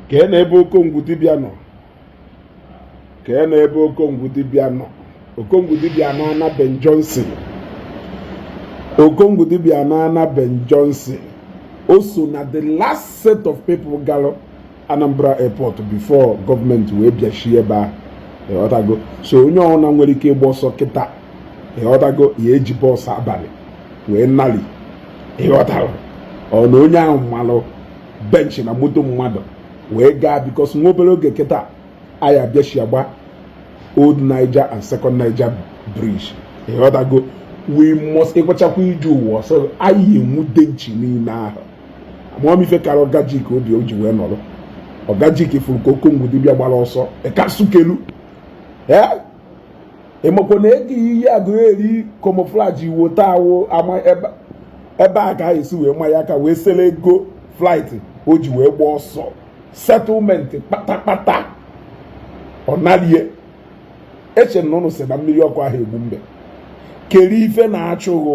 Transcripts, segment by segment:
kee na ebe okongwu dibịa nọ kee na ebe okongwu dibịa nọ okongwu dibịa na ana ben johnson okongwu dibịa na ana ben johnson o so na the last set of people galụ anambra airport before gọọmenti wee bịachie ebe ahụ ịghọtago so onye ọbụla nwere ike ịgba ọsọ kịta ịghọtago ya eji bus abalị wee nali ịghọtara ọ na onye ahụ malụ bench na moto mmadụ wee gaa because nwa obere oge kịta a ya-abịachi agba old niger and second niger bridge ịghọtago we must ịkwachakwa ije ụwa so anyị enwude nchi niile ahụ ama m ife kara ọgajik obi o ji wee nọrọ ọgajik fụrụ ka okongwu dibịa gbara ọsọ ịkasukelu ee ịmakwa na ego iyi aguleri camouflage iwo taa wo ama ebe ebe a ka esi wee ma ya aka wee sere ego flight o ji wee gba ọsọ settlement kpatakpata ọ narie eche m na ụnụ sị na mmiri ọkụ aha egbu mbe keri ife na-achụ ghụ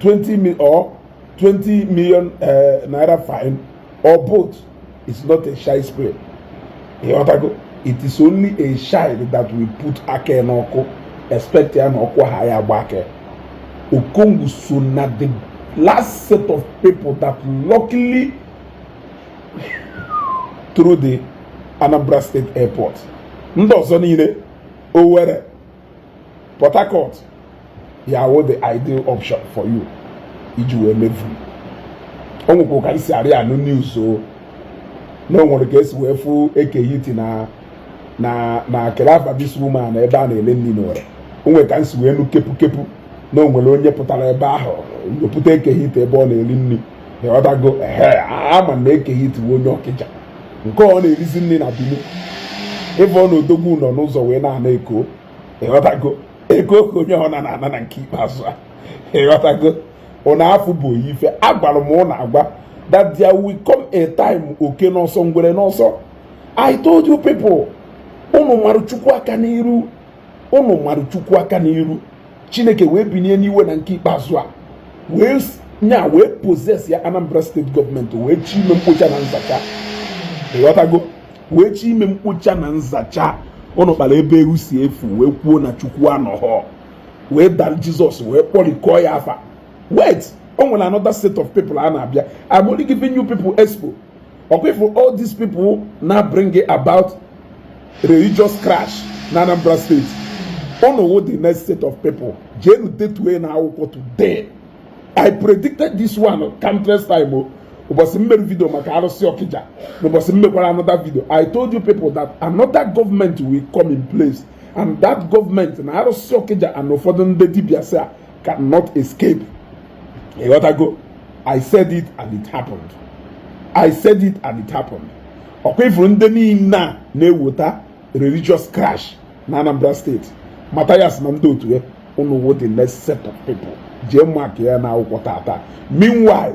20 mil or 20 million uh, naira fine or both is not a child's play ịghọtago it is only a child that will put aka n'ọkụ expect ya na ọkụ aha ya agba aka okongwu so na the last set of people that luckily through the anambra state airport ndị ọzọ niile owerri Port Harcourt ya wo the ideal option for you iji wee mevu o nwekwa ka m si arị anụ news so na o nwere ka esi wee fụ eke hit na na na calabar this woman ebe a na-ele nni n'ore o nwere ka m si wee nụ kepu kepu na o nwere onye pụtara ebe ahụ wepụta eke hit ebe ọ na-eli nni ịghọtago ee ama na eke hit wụ onye ọkịja nke ọ na-erizi nni na bini ịbụ na odogwu nọ n'ụzọ wee na-ana eko ịghọtago eko ka onye ọ na ana na nke ikpeazụ a ịghọtago ụna afụ bụ ife agwara m ụnụ agwa that there will come a time oke n'ọsọ ngwere n'ọsọ I told you people unu mara chukwu aka n'iru ụnụ mara chukwu aka n'iru chineke wee binie n'iwe na nke ikpeazụ a wee nya wee possess ya anambra state government wee chi ime mkpocha na nzacha ịghọtago wee chi ime mkpocha na nzacha ụnụ kpara ebe eru si efu wee kwuo na chukwu anọghọ wee dara jizọs wee kpọrikọọ ya afa wait o nwere another set of people a na-abịa I'm only giving you people expo ọkwa ịfụrụ all these people na-bring about religious crash na Anambra steeti unu wụ the next set of people jeenu detue na akwụkwọ today I predicted this one countless time o oh. ụbọchị m mere vidio maka arụsị Ọkịja na ụbọchị m mekwara another video I told you people that another government will come in place and that government na arụsị Ọkịja and ụfọdụ ndị dibịa asị a cannot escape ịghọtago i said it and it happened i said it and it happened ọkwa ịfụrụ ndị niile a na-eweta religious crash na Anambra steeti Matthias na ndị otu ya unu wụ the next set of people jee mark ya na akwụkwọ tata meanwhile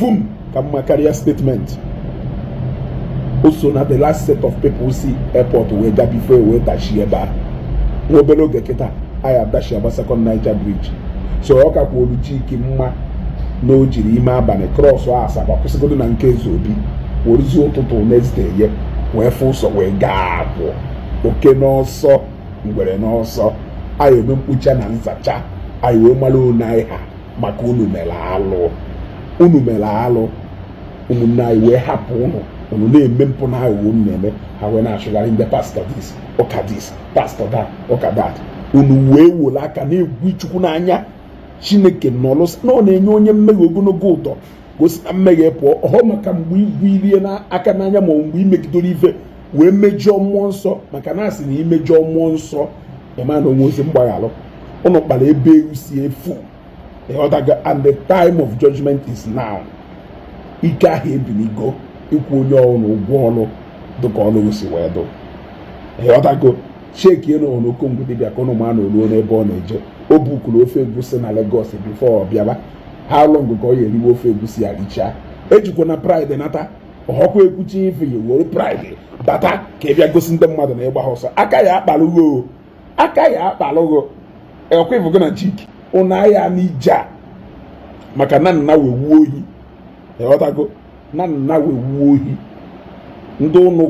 vum ka mma karịa statement o so na the last set of people si airport wee gaa before e wee dachie ebe a nwa obere oge kịta anyị adachie eba Second Niger bridge so ọ kakwaalụ Chike mma na o jiri ime abalị cross Asaba kwụsịgodu na nke Ezeobi weruzie ụtụtụ next day ya wee fụ ụzọ wee gaa abụọ oke n'ọsọ ngwere n'ọsọ anyị eme mkpocha na nzacha anyị wee mara one anyị ha maka unu mere alụ unu mere alụ ụmụnne anyị wee hapụ unu unu na-eme mpụ na aghụghọ unu na-eme ha wee na-achụgharị ndị pastor this ụka this pastor that ụka that unu wee were aka na-egwu Chukwu n'anya Chineke nọlụ na ọ na-enye onye mmehie ogologo ụdọ gosi na mmehie pụọ ọhọ maka mgbe igwuri ya aka n'anya ma mgbe imegidoro ife wee mejọọ mmụọ nsọ maka na asị na imejọọ mmụọ nsọ ịma na o nwerozi mgbaghalụ unu kpara ebe ewu si efu ịghọtago and the time of judgment is now ike ahụ ebinigo ịkwụ onye ọlụ ụgwọ ọlụ dịka ọlụ si wee dụ ịghọtago cheki elu ọnụ Okongwu dibịa ka unu ma na o luo n'ebe ọ na-eje o bukuru ofe egwusi na Lagos before ọ bịaba how long ka ọ ya-eriwe ofe egwusi ya richaa ejikwana pride nata ọkwa ekwuchi ife ya were pride bata ka ị bịa gosi ndị mmadụ na ị gbahọ ọsọ aka ya-akpalụ gị aka ya-akpalụ gị ọkwa ịfụgo na chiki unu ahịa n'ije a maka na nna wee wuo ohi ịghọtago na nna wee wuo ohi ndị unu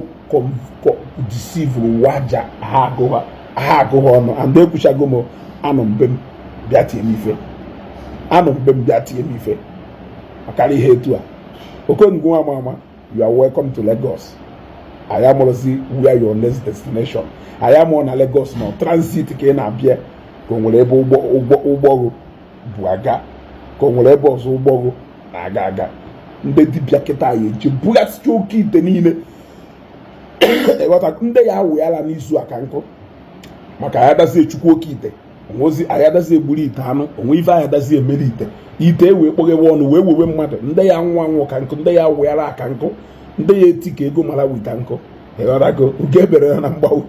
deceive-uru waja ha agụghọ ha agụghọ ọnụ and ekwuchago m anọ mbe m bịa tie m ife anọ mbe m bịa tie m ife ọkara ihe etu a Okongwu nwa a ma ama you are welcome to Lagos anyị amarọzi where your next destination anyị amarọ na Lagos nọ transit ka ị na-abịa ka o nwere ebe ụgbọ gụ bu aga ka o nwere ebe ọzọ ụgbọ gụ na-aga aga ndị dibịa kịta ya-eje bughasịcha oke ite niile ndị ya awụghara n'izu a ka nkụ maka ya dazie chukwu oke ite o nwezi ayadazi egburu ite anụ o nwe ife ayadazi emere ite ite e wee kpọghewe ọnụ wee wewe mmadụ ndị ya anwụ anwụ ka nkụ ndị ya awị ara ka nkụ ndị ya eti ka ego mara wita nkụ ịghọtago nke ebere ya na mgbawu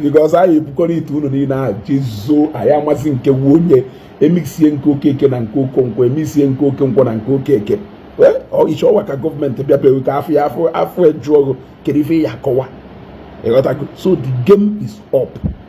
because anyị ebukọrọ ite unu niile ahụ jezuo anyị amazi nke wu onye e mixie nke okeke na nke okonkwo e mixie nke okonkwo na nke okeke iche ọwa ka gọọmenti bịa bịawe ka afọ ya afọ afọ ejuọgụ kedu ife ya akọwa ịghọtago so the game is up